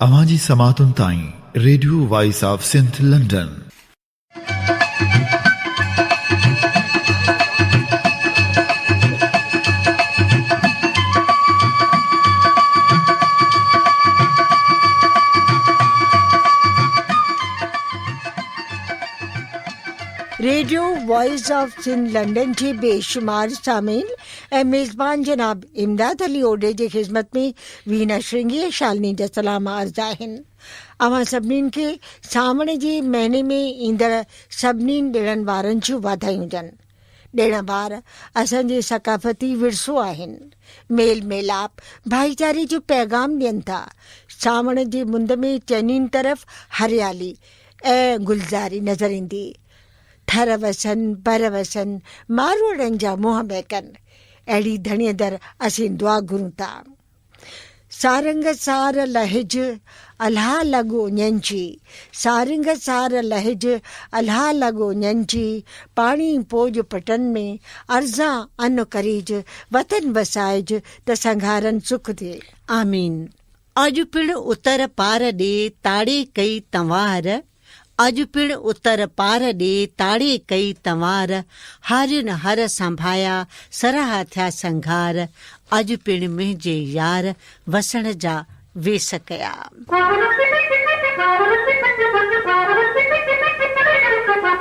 اوهان جي سماعتن تائين radio voice of Sindh London. Radio voice of Sindh London جي بيشمار سامعين ۽ ميزبان جناب امداد علي اوڏي جي خدمت ۾ وينا شرنگي ۽ شالني جا سلام عرض آهن اوهان سڀنين کي سانوڻ جي مهيني ۾ ايندڙ سڀني ڏڻن وارن جون واڌايون هجن ڏڻ وار اسان جي ثقافتي ورثو آهن ميل ميلاپ ڀائيچاري جو پيغام ڏين ٿا سانوڻ جي مند ۾ چئنين طرف هريالي ۽ گلزاري نظر ايندي ٺر وسن بر وسن، ماروئڙن جا منهن مهڪن. اهڙي ڌڻيء در اسين دعا گهرون ٿا. سارنگ سار لهج، الها لڳ اڃن جي. سارنگ سار لهج، الها لڳ اڃن جي. پاڻي پوڄ پٽن ۾، ارزان ان ڪريج. وطن وسائج، ته سنگهارن سک ٿئي. آمين. اڄ پڻ اتر پار ڏي تاڙي ڪئي تنوار اڄ پڻ اتر پار ڏي تاڙي ڪئي تنوار هارين هر سنڀايا سرها ٿيا سنگهار اڄ پڻ منهنجي يار وسڻ جا ويس ڪيا.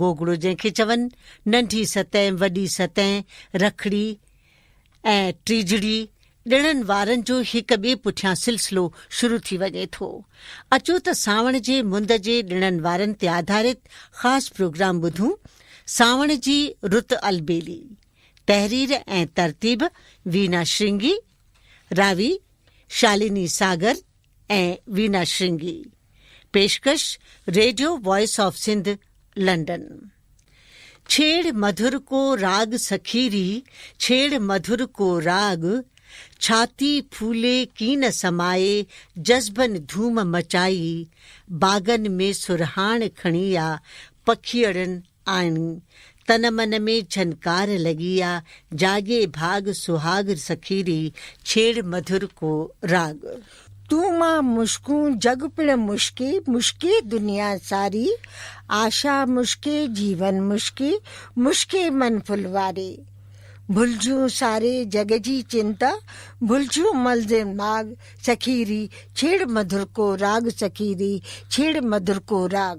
گوگڙو جنهن کي چون، ننڍي ستين، وڏي ستين، رکڙي ۽ ٽيجڙي ڏڻن وارن جو هڪ ٻئي پٺيان سلسلو شروع ٿي وڃي ٿو. اچو ته سانوڻ جي مند جي ڏڻن وارن تي آڌارت خاص پروگرام ٻڌون، سانوڻ جي رت البيلي، تحرير ۽ ترتيب وينا شرنگي، راوي شالني ساگر، ۽ وينا شرنگي. پيشڪش radio voice of Sindh London. ڇيڙ مڌر ڪو راڳ سخي ري ڇيڙ مڌر ڪو راڳ ڇاتي ڦولي ڪين سمائي جذبن ڌوم مچائي باغن ۾ سرهاڻ کڻي آ پکيئڙن آڻي، تن من ۾ جھنڪار لڳي آ، جاڳي ڀاڳ سھاڳ سخي ري، ڇيڙ مڌر ڪو راڳ. تون مان مشڪون جڳ پڻ مشڪي، مشڪي دنيا ساري، آشا مشڪي جيون مشڪي، مشڪي من ڦل واري. ڀلجون ساري جڳ جي چنتا، ڀلجون ملزم ماڳ سخي ري، ڇيڙ مڌر ڪو راڳ سخي ري، ڇيڙ مڌر ڪو راڳ.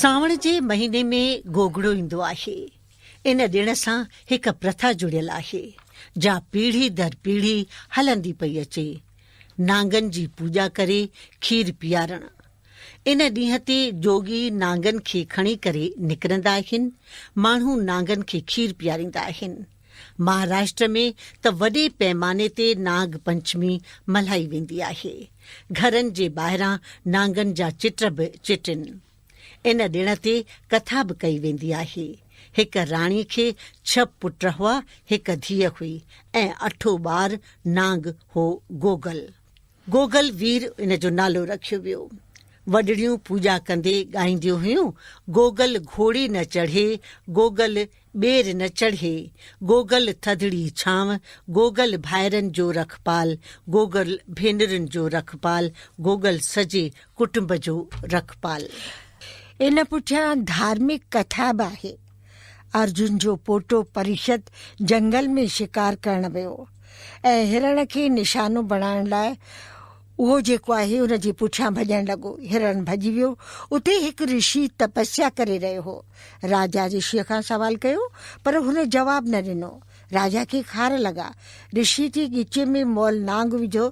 سانوڻ جي مهيني ۾ گوگڙو ايندو آهي. ان ڏڻ سان هڪ پرٿا جڙيل آهي، جا پيڙهي در پيڙهي هلندي پئي اچي. نانگن جي پوڄا ڪري کير پيارڻ. ان ڏينهن تي جوڳي نانگن کي کڻي ڪري نڪرندا آهن. ماڻهو نانگن کي کير پياريندا آهن. مهاراشٽر ۾ ته وڏي پيماني تي ناگ پنچمي ملهائي ويندي آهي. گهرن جي ٻاهران نانگن جا چٽ به چٽين. ان ڏڻ تي ڪٿا به ڪئي ويندي آهي. هڪ راڻي کي ڇهه پٽ هئا، هڪ ڌيء هئي ۽ اٺون ٻار نانگ هو گوگل. گوگل وير ان جو نالو رکيو ويو. وڏڙيون پوڄا ڪندي ڳائينديون هيون، گوگل گهوڙي نه چڙهي، گوگل ٻير نه چڙهي، گوگل ٿڌڙي ڇانو، گوگل ڀائرن جو رکپال، گوگل ڀينرن جو رکپال، گوگل سڄي ڪٽنب جو رکپال. ان پٺيان ڌارمڪ ڪٿا به آهي. ارجن جو پوٽو پريشد جهنگل ۾ شڪار ڪرڻ ويو ۽ هرڻ کي نشانو بڻائڻ لاء اهو جيڪو آهي ان جي پٺيان ڀڄڻ لڳو. هرڻ ڀڄي ويو. اتي هڪ رشي تپسيا ڪري رهيو هو. راجا رشيء کان سوال ڪيو پر هن جواب نه ڏنو. راجا کي خار لڳا. رشيء جي ڳچي ۾ مئل نانگ وڌو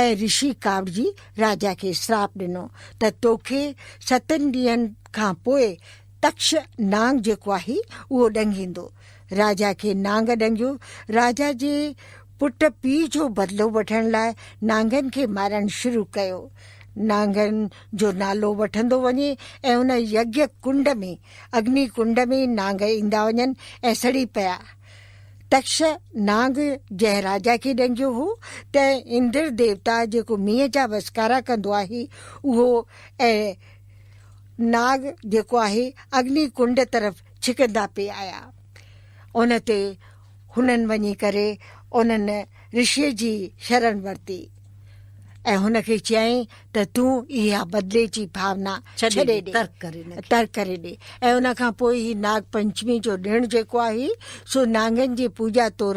۽ رشي ڪاوڙجي راجا کي سراپ ڏنو ته توکي ستن ڏينهن کان پوء تڪش نانگ جيڪو آهي اهو ڏنگيندو. راجا کي نانگ ڏنگيو. راجا جي پٽ پيء جو بدلو وٺڻ لاء نانگن کي مارڻ شروع ڪيو. نانگن جو نالو وٺندو وڃي ۽ ان يگيا ڪنڊ ۾، اگني ڪنڊ ۾، نانگ ايندا وڃن ۽ سڙي پيا. تڪش نانگ جنهن راجا کي ڏنگيو هو ته اندر ديوتا جيڪو مينهن جا وسڪارا ڪندو آهي اهو ۽ ناگ جيڪو آهي اگني ڪنڊ طرف ڇڪندا پئي آيا. ان تي هنن وڃي ڪري انهن رشيء جي شرڻ ورتي ۽ هن کي چيائين ته تون اها بدلي جي ڀاونا ڇڏي ڏي، ترڪ ڪري ڏي ۽ ان کان پوء هي ناگ پنچمي جو ڏڻ جيڪو آهي سو نانگن جي پوڄا طور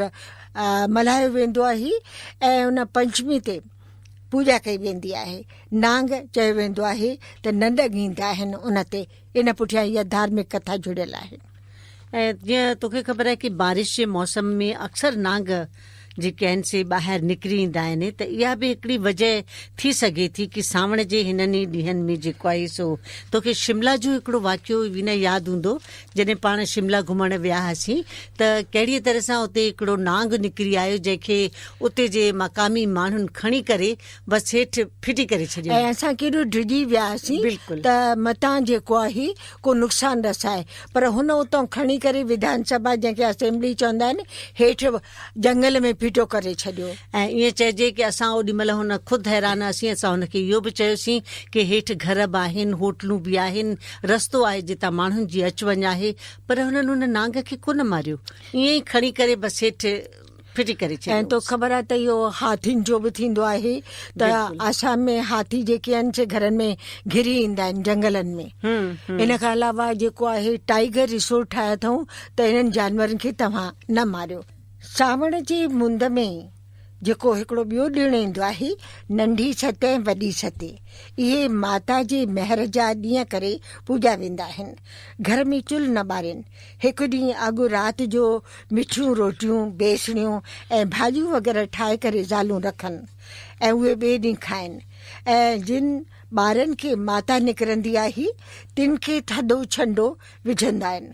ملهايو ويندو آهي ۽ ان پنچمي تي پوڄا ڪئي ويندي آهي. نانگ، چيو ويندو آهي ته ننڊ ڳينڌ آهن ان تي، ان پٺيان اها ڌارمڪ ڪٿا جڙيل آهي. ۽ جيئن توکي خبر آهي ڪي بارش جي موسم ۾ اڪثر نانگ جيڪي آهن سي ٻاهر نڪري ايندا آهن ته اها به هڪڙي وجه ٿي سگهي ٿي ڪي سانوڻ جي هنن ئي ڏينهن ۾ جيڪو آهي سو توکي شملا جو هڪڙو واقعو وينا ياد هوندو جڏهن پاڻ شملا گهمڻ ويا هئاسين ته ڪهڙيء طرح سان اتي هڪڙو نانگ نڪري آيو جنهن کي اتي جي مقامي ماڻهن کڻي ڪري بس هيٺ ڦٽي ڪري ڇڏيو. ۽ اسان ڪيڏو ڊڄي ويا هئاسين ته متان جيڪو آهي ڪو نقصان رسائي پر هن اتان کڻي ڪري وڌان سڀا جنهن کي اسيمبلي چوندا آهن هيٺ جهنگل ۾ ڦيٽو ڪري ڇڏيو. ۽ ائين چئجي ڪي اسان اوڏي مهل هن خود حيران هئاسين اسان هن کي اهو به چيوسين ڪي هيٺ گهر به آهن هوٽلون به آهن رستو آهي جتان ماڻهن جي اچ وڃ آهي پر هنن ان نانگ کي ڪونه ماريو ائين ئي کڻي ڪري بس هيٺ ڦٽي ڪري ڇڏيو. ۽ توکي خبر آهي ته اهو هاٿين جو به ٿيندو آهي ته آسام ۾ هاٿي جيڪي آهن سي گهرن ۾ گهري ايندا آهن جهنگلن ۾ ان کان علاوه جيڪو آهي ٽائيگر ريسورٽ ٺاهيا اٿئون ته انهن جانورن کي توهان نه ماريو. سانوڻ جي مند ۾ جيڪو هڪڙو ٻيو ڏڻ ايندو آهي، ننڍي ست ۽ وڏي ست، اهي ماتا جي مهر جا ڏينهن ڪري پوڄيا ويندا آهن. گهر ۾ چلهه نه ٻارين. هڪ ڏينهن اڳ رات جو مٺيون روٽيون، بيسڻيون ۽ ڀاڄيون وغيره ٺاهي ڪري زالون رکن ۽ اهي ٻئي ڏينهن کائن ۽ جن ٻارن کي ماتا نڪرندي آهي، تن کي ٿڌو ڇنڊو وجهندا آهن.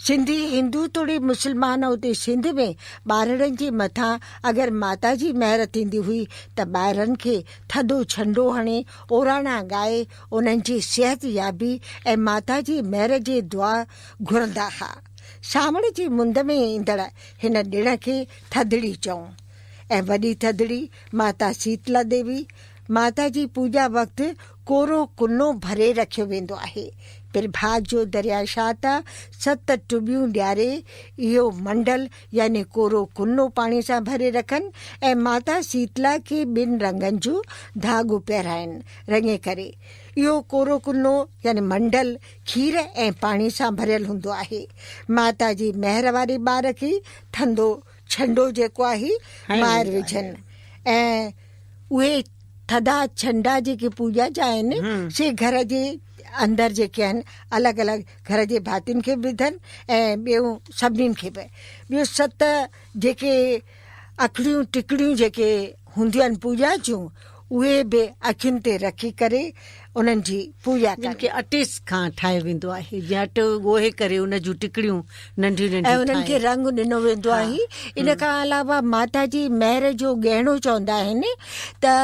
سنڌي هندو توڙي مسلمان اتي سنڌ ۾ ٻارڙن جي مٿان اگر ماتا جي مهر ٿيندي هئي ته ٻارڙن کي ٿڌو ڇنڊو هڻي اوراڻا ڳائي انهن جي صحت يابي ۽ ماتا جي مهر جي دعا گهرندا ها سانوڻ جي مند ۾ ايندڙ هن ڏڻ کي ٿڌڙي چئون ۽ وڏي ٿڌڙي ماتا سيتلا ديوي ماتا جي پوڄا وقت ڪورو ڪنو ڀري رکيو ويندو آهي. پرڀاء جو درياء شاهه ته ست ٽٻيون ڏياري اهو منڊل يعني ڪورو ڪنو پاڻي سان ڀري رکن ۽ ماتا سيتلا کي ٻن رنگن جو ڌاڳو پهرائين رڱي ڪري. اهو ڪورو ڪنو يعني منڊل کير ۽ پاڻي سان ڀريل هوندو آهي. ماتا جي مهر واري ٻار کي ٿڌو ڇنڊو جيڪو آهي ٻاهر وجهن ۽ اهي ٿڌا ڇنڊا جيڪي پوڄا جا آهن سي گهر جي اندر جيڪي آهن الڳ الڳ گهر جي ڀاتين کي به وڌن ۽ ٻيو سڀني کي به ٻيو ست جيڪي اکڙيون ٽڪڙيون جيڪي هونديون پوڄا جون اهي به اکين تي رکي ڪري انهن جي پوڄا ڪن. جن کي اٽي کان ٺاهيو ويندو آهي جيئن اٽو ڳوهي ڪري ان جون ٽڪڙيون ننڍيون ننڍيون ٺاهي انهن کي رنگ ڏنو ويندو آهي ان کان علاوه ماتا جي مهر جو ڳهڻو چوندا آهن ته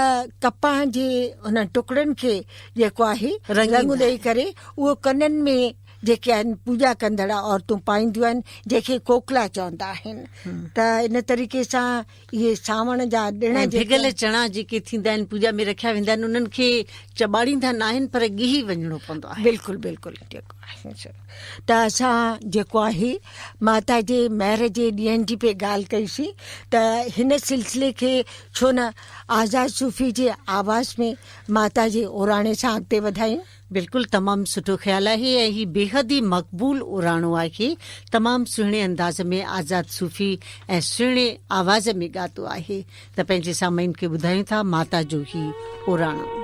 ڪپهه جي انهن ٽڪڙن کي جيڪو آهي رنگ ڏئي ڪري اهو ڪنن ۾ جيڪي آهن پوڄا ڪندڙ عورتون پائينديون آهن جنهن کي ڪوڪلا چوندا آهن ته ان طريقي سان اهي سانوڻ جا ڏڻ ۽ ڀڳل چڻا جيڪي ٿيندا آهن پوڄا ۾ رکيا ويندا آهن انهن کي چٻاڙيندا ناهن پر ڳهي وڃڻو پوندو آهي بلڪل بلڪل ته اسان جيڪو آهي ماتا جي مهر جي ڏينهن جي پي ڳالهه ڪئيسي ته هن سلسلي کي ڇو نه آزاد صوفي جي آواز ۾ ماتا جي اوراڻي سان اڳتي وڌايون بلڪل تمام سٺو خيال آهي ۽ هي بيحد ئي مقبول اراڻو آهي تمام سهڻي انداز ۾ آزاد صوفي ۽ سهڻي آواز ۾ ڳاتو آهي ته پنهنجي سامعين کي ٻڌايون ٿا ماتا جو هي اراڻو.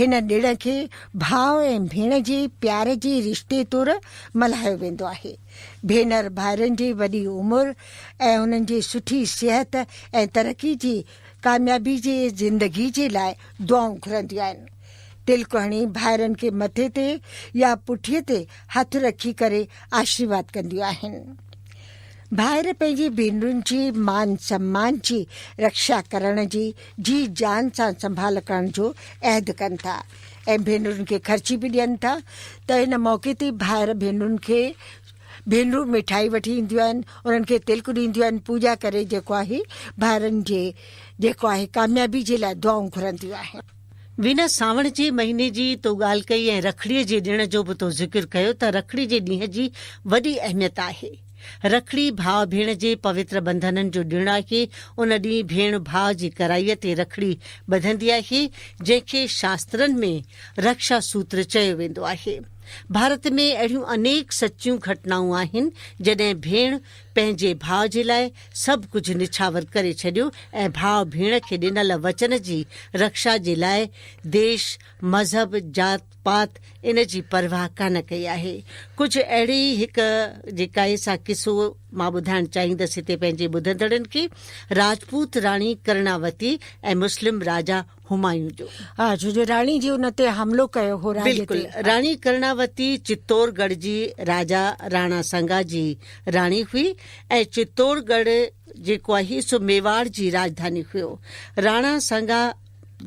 هن ڏڻ کي ڀاء ۽ ڀيڻ جي پيار جي رشتي طور ملهايو ويندو آهي. ڀينر ڀائرن جي وڏي عمر ۽ انهن جي سٺي صحت ۽ ترقي جي ڪاميابي جي زندگي جي لاء دعائون گهرنديون آهن. تلڪ هڻي ڀائرن کي مٿي تي يا پٺيء تي هٿ رکي ڪري آشيرواد ڪنديون آهن. ڀائر پنهنجي ڀينرن جي مان سمان جي رڪشا ڪرڻ جي جي جان سان سنڀال ڪرڻ جو عهد ڪن ٿا ۽ ڀينرن کي خرچي به ڏين ٿا ته ان موقعي تي ڀائر ڀينرن کي ڀينرون مٺائي وٺي اينديون آهن انهن کي تلڪ ڏينديون آهن پوڄا ڪري جيڪو آهي ڀائرن جي جيڪو آهي ڪاميابي جي لاء دعائون گهرنديون آهن. وينا سانوڻ جي مهيني جي تو ڳالهه ڪئي ۽ رکڙي جي ڏڻ جو به تو ذڪر ڪيو ته رکڙي جي ڏينهن جي وڏي اهميت آهي. رکڙي ڀاء ڀيڻ جي پوتر ٻنڌنن جو ڏڻ آهي، ان ڏينهن ڀيڻ ڀاء جي ڪرائي تي رکڙي ٻڌندي آهي، جنهن کي شاسترن ۾ رڪشا سوتر چيو ويندو آهي. ڀارت ۾ اهڙيون انيڪ سچيون گهٽنائون آهن، جڏهن ڀيڻ پنهنجي ڀاء جي لاء سڀ ڪجهه نڇاور ڪري ڇڏيو ۽ ڀاء ڀيڻ کي ڏنل وچن جي رڪشا جي لاء ديش مذهب، ذات پات ان جي پرواهه ڪانه ڪئي آهي. ڪجهه اهڙي ئي هڪ جيڪائي سان قصو مان ٻڌائڻ چاهيندس هتي پنهنجي ٻڌندڙن کي راجپوت راڻي ڪرڻاوتي ۽ مسلم راجا همايون جو. ها جو جو راڻي جي ان تي حملو ڪيو هو راڄ تي. بلڪل راڻي ڪرڻاوتي چتور ڳڙهه جي راجا راڻا سنگا جي راڻي هئي ۽ چتور ڳڙهه جيڪو آهي سو ميواڙ جي راڄڌاني هيو. راڻا سنگا.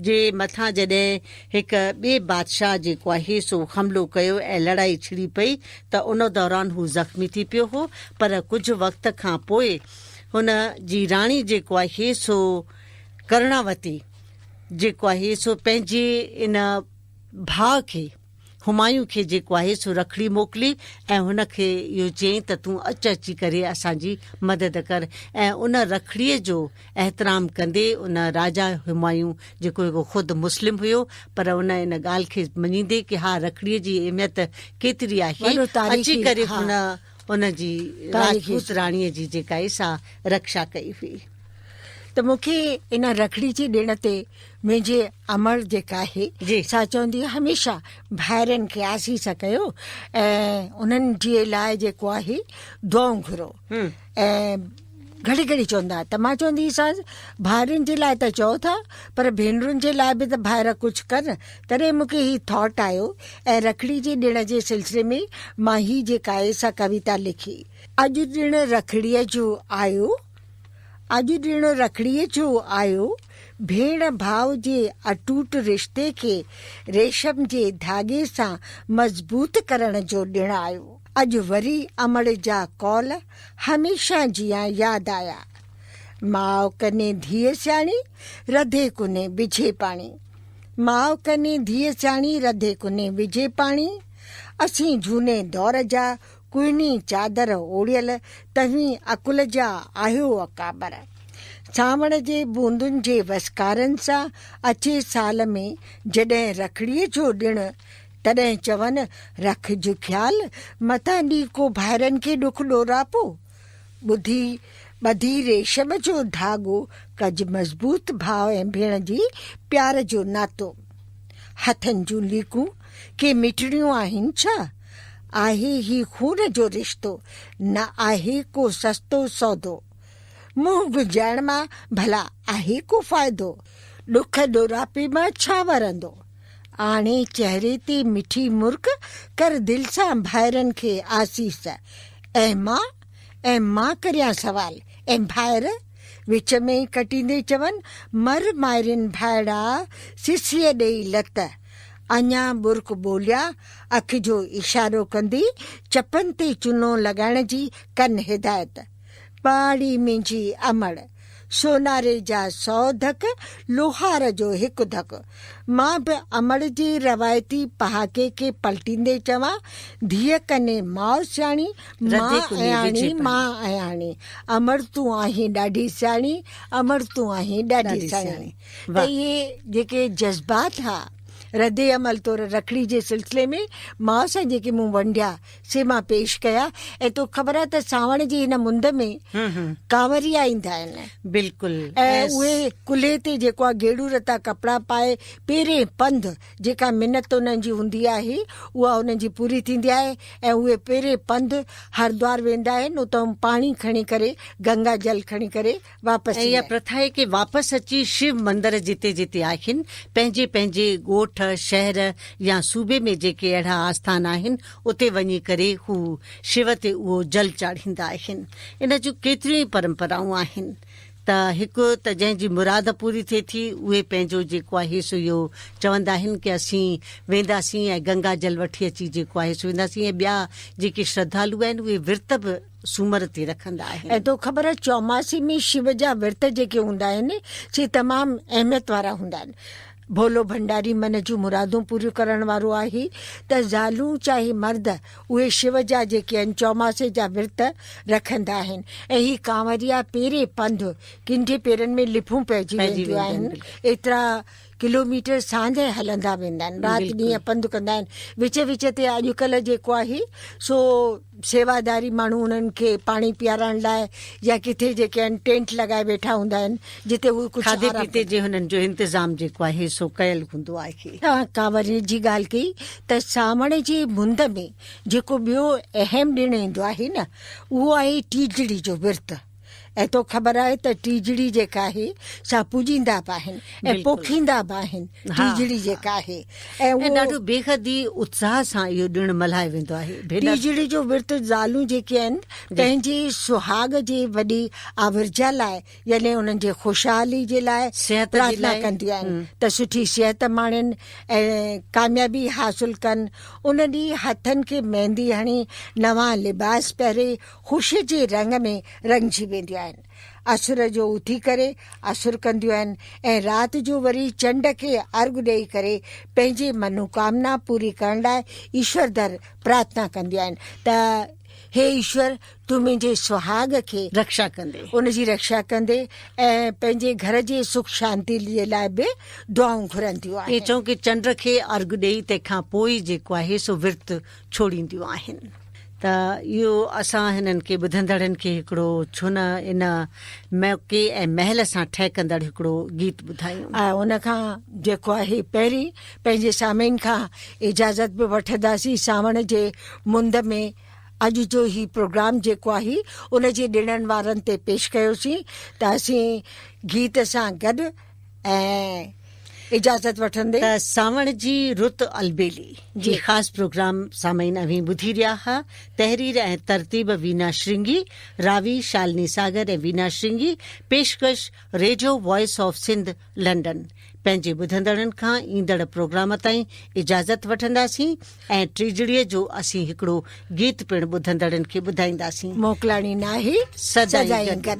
جي مٿان جڏهن هڪ ٻئي بادشاهه جيڪو آهي سو حملو ڪيو ۽ لڙائي ڇڙي پئي ته ان دوران هو زخمي ٿي پيو هو پر ڪجهه وقت کان پوء هن جي راڻي جيڪو آهي سو ڪرڻاوتي جيڪو آهي سو پنهنجي ان ڀاء کي همايون کي جيڪو آهي سو رکڙي موڪلي ۽ هن کي اهو چيائين ته تون اچ اچي ڪري اسان جي مدد ڪر ۽ ان رکڙيء جو احترام ڪندي ان راجا همايون جيڪو هڪ خود مسلم هيو پر ان ان ڳالهه کي مڃيندي ڪي ها رکڙيء جي اهميت ڪيتري آهي اچي ڪري هن ان جي راجپوت راڻيء جي جيڪا ئي سا رڪشا ڪئي هئي ته مون کي ان رکڙي جي ڏڻ تي منهنجي امڙ جيڪا آهي سا چوندي هميشه ڀائرن کي آسيس ڪيو ۽ انهن جي لاء جيڪو آهي دعائون گهرو ۽ گهڙي گهڙي چوندا ته مان چوندي هئيسانس ڀائرن جي لاء ته چئو ٿا پر ڀينرن جي لاء به ته ڀائر ڪجهه ڪن تڏهن مون کي هي ٿاٽ آيو ۽ رکڙي جي ڏڻ جي سلسلي ۾ مان هي جيڪائي سا ڪويتا لکي. اڄ ڏڻ رکڙيء جو آيو اڄ ڏڻ رکڙيء جو آيو ڀيڻ ڀاء جي اٽوٽ رشتي کي ريشم جي ڌاڳي سان مضبوط ڪرڻ جو ڏڻ آيو. اڄ وري امڙ جا قول هميشه جيان ياد آيا. ماء ڪني ڌيء سياڻي، رڌي ڪني وجهي پاڻي. ماء ڪني ڌيء سياڻي، رڌي ڪني وجهي پاڻي. اسين جهوني دور جا، ڪوهني چادر اوڙيل، توهين عقل جا آهيو اڪابر. سانوڻ جي بوندن جي وسڪارن سان اچي سال ۾ جڏهن رکڙيء جو ڏڻ تڏهن چون، رکج خيال، متان ڏي ڪو ڀائرن کي ڏک ڏوراپو. ٻڌي ٻڌي ريشم جو ڌاڳو، ڪج مضبوط ڀاء ۽ ڀيڻ جي پيار جو ناتو. هٿن جون ليڪون ڪي مٽڻيون آهن ڇا؟ آهي هي خون جو رشتو، نه آهي ڪو سستو سودو. منهن گنجائڻ مان ڀلا آهي ڪو فائدو؟ ڏک ڏوراپي مان ڇا ورندو؟ آڻي چهري تي مٺي مرڪ، ڪر دل سان ڀائرن کي آسيس. اي ماء! اي ماء ڪريان سوال، اي ڀائر! وچ ۾ ئي ڪٽيندي چون، مر مائرين ڀائڙا، سسيء ڏئي لت. اڃا ٻرڪ ٻوليا، اک جو اشارو ڪندي چپن تي چنو لڳائڻ جي ڪن هدايت. پاڙي منهنجي امڙ، سوناري جا سؤ ڌڪ، لوهار جو هڪ ڌڪ. مان به امڙ جي روايتي پهاڪي کي پلٽيندي چوان، ڌيء ڪني ماء سياڻي، ماء اياڻي، ماء اياڻي. امڙ تون آهين ڏاڍي سياڻي، امڙ تون آهين ڏاڍي سياڻي. ته اهي جيڪي جذبات ها رد عمل طور رکڙي جي سلسلي ۾ ماء سان جيڪي مون ونڊيا، سي مان پيش ڪيا ۽ تو خبر آهي ته سانوڻ جي هن مند ۾ ڪانوريا ايندا آهن بلڪل ۽ اهي ڪلهي تي جيڪو آهي گيڙو رتا ڪپڙا پائي پيرين پنڌ جيڪا منت انهن جي هوندي آهي اها انهن جي پوري ٿيندي آهي ۽ اهي پيرين پنڌ هردوار ويندا آهن اتان پاڻي کڻي ڪري گنگا جل کڻي ڪري واپس ايندي آهي. اها پرٿا آهي ڪي واپس اچي شيو مندر جتي جتي آهن پنهنجي پنهنجي ڳوٺ، شهر يا صوبي ۾ جيڪي اهڙا آسٿان آهن اتي وڃي ڪري هو شيو تي اهو جل چاڙهيندا آهن. ان جون ڪيتريون ئي پرمپرائون آهن ته هڪ ته جنهن جي مراد پوري ٿئي ٿي اهي پنهنجو جيڪو آهي سو اهو چوندا آهن ڪي اسين وينداسين ۽ گنگا جل وٺي اچي جيڪو آهي سو وينداسين ۽ ٻيا جيڪي شرڌالو آهن اهي ورت به سومر تي رکندا آهن ۽ تو خبر آهي چوماسي ۾ شو جا ورت جيڪي هوندا آهن سي تمام اهميت وارا هوندا آهن ڀولو ڀنڊاري من جون مرادون پوريون ڪرڻ وارو آهي ته زالون چاهي مرد اهي شو جا جيڪي آهن چوماسي جا ورت رکندا آهن ۽ هي ڪانوريا پيري پنڌ ڪنڍي پيرن ۾ لڦون پئجي وينديون آهن ايترا ڪلوميٽر سانجهه هلندا ويندا آهن رات ڏينهن پنڌ ڪندا آهن وچ وچ تي اڄڪلهه جيڪو آهي سو سيواداري ماڻهو انهن کي پاڻي پيارڻ لاء يا ڪٿي جيڪي آهن ٽينٽ لڳائي ويٺا هوندا آهن جتي هو ڪجهه کاڌي پيتي جي هنن جو انتظام جيڪو آهي سو ڪيل هوندو آهي. توهان ڪانورين جي ڳالهه ڪئي ته سانوڻ جي مند ۾ جيڪو ٻيو اهم ڏڻ ايندو آهي نه اهو آهي ٽيجڙي جو ورت. ۽ تو خبر آهي ته ٽيجڙي جيڪا آهي سا پوڄيندا به آهن ۽ پوکيندا به آهن ٽيجڙي جيڪا آهي ۽ ڏاڍو بيحد ئي اتساهه سان اهو ڏڻ ملهايو ويندو آهي ٽيجڙي جو ورت زالون جيڪي آهن پنهنجي سهاڳ جي وڏي آورجا لاء يعني انهن جي خوشحالي جي لاء صحت جي لاء ڪنديون آهن ته سٺي صحت ماڻين ۽ ڪاميابي حاصل ڪن ان ڏينهن هٿن کي ميندي هڻي نوان لباس پهري خوشيء جي رنگ ۾ رڱجي وينديون آهن. اسر جو اٿي ڪري اسر ڪنديون آهن ۽ رات جو وري چنڊ کي ارغ ڏئي ڪري پنهنجي منوڪامنا پوري ڪرڻ لاء ايشور در پرارٿنا ڪنديون آهن ته هي ايشور تون منهنجي سهاڳ کي رکشا ڪندي. ان جي رکشا ڪندي ۽ پنهنجي گهر جي سک شانتي جي لاء به دعائون گهرنديون آهن. ائين چئون ڪي چنڊ کي ارغ ڏئي تنهن کان پوء ئي جيڪو آهي سو ورت ڇوڙينديون آهن ته اهو اسان هنن کي ٻڌندڙن کي هڪڙو ڇو نه ان موقعي ۽ مهل سان ٺهڪندڙ هڪڙو گيت ٻڌايون. ۽ ان کان جيڪو آهي پهرين پنهنجي سامعين کان اجازت به وٺنداسين سانوڻ جي مند ۾ اڄ جو هي پروگرام جيڪو آهي ان جي ڏڻن وارن تي پيش ڪيوسين ته اسين گيت سان گڏ ۽ اجازت وٺندي ته سانوڻ جي رت البيلي جي خاص پروگرام سامعين اوهين ٻڌي رهيا ها تحرير ۽ ترتيب وينا شرنگي راوي شالني ساگر ۽ وينا شرنگي پيشڪش radio voice of Sindh London پنهنجي ٻڌندڙن کان ايندڙ پروگرام تائين اجازت وٺنداسين ۽ ٽيجڙيء جو اسين هڪڙو گيت پڻ ٻڌندڙن کي ٻڌائينداسين. موڪلاڻي ناهي سدائين گڏ.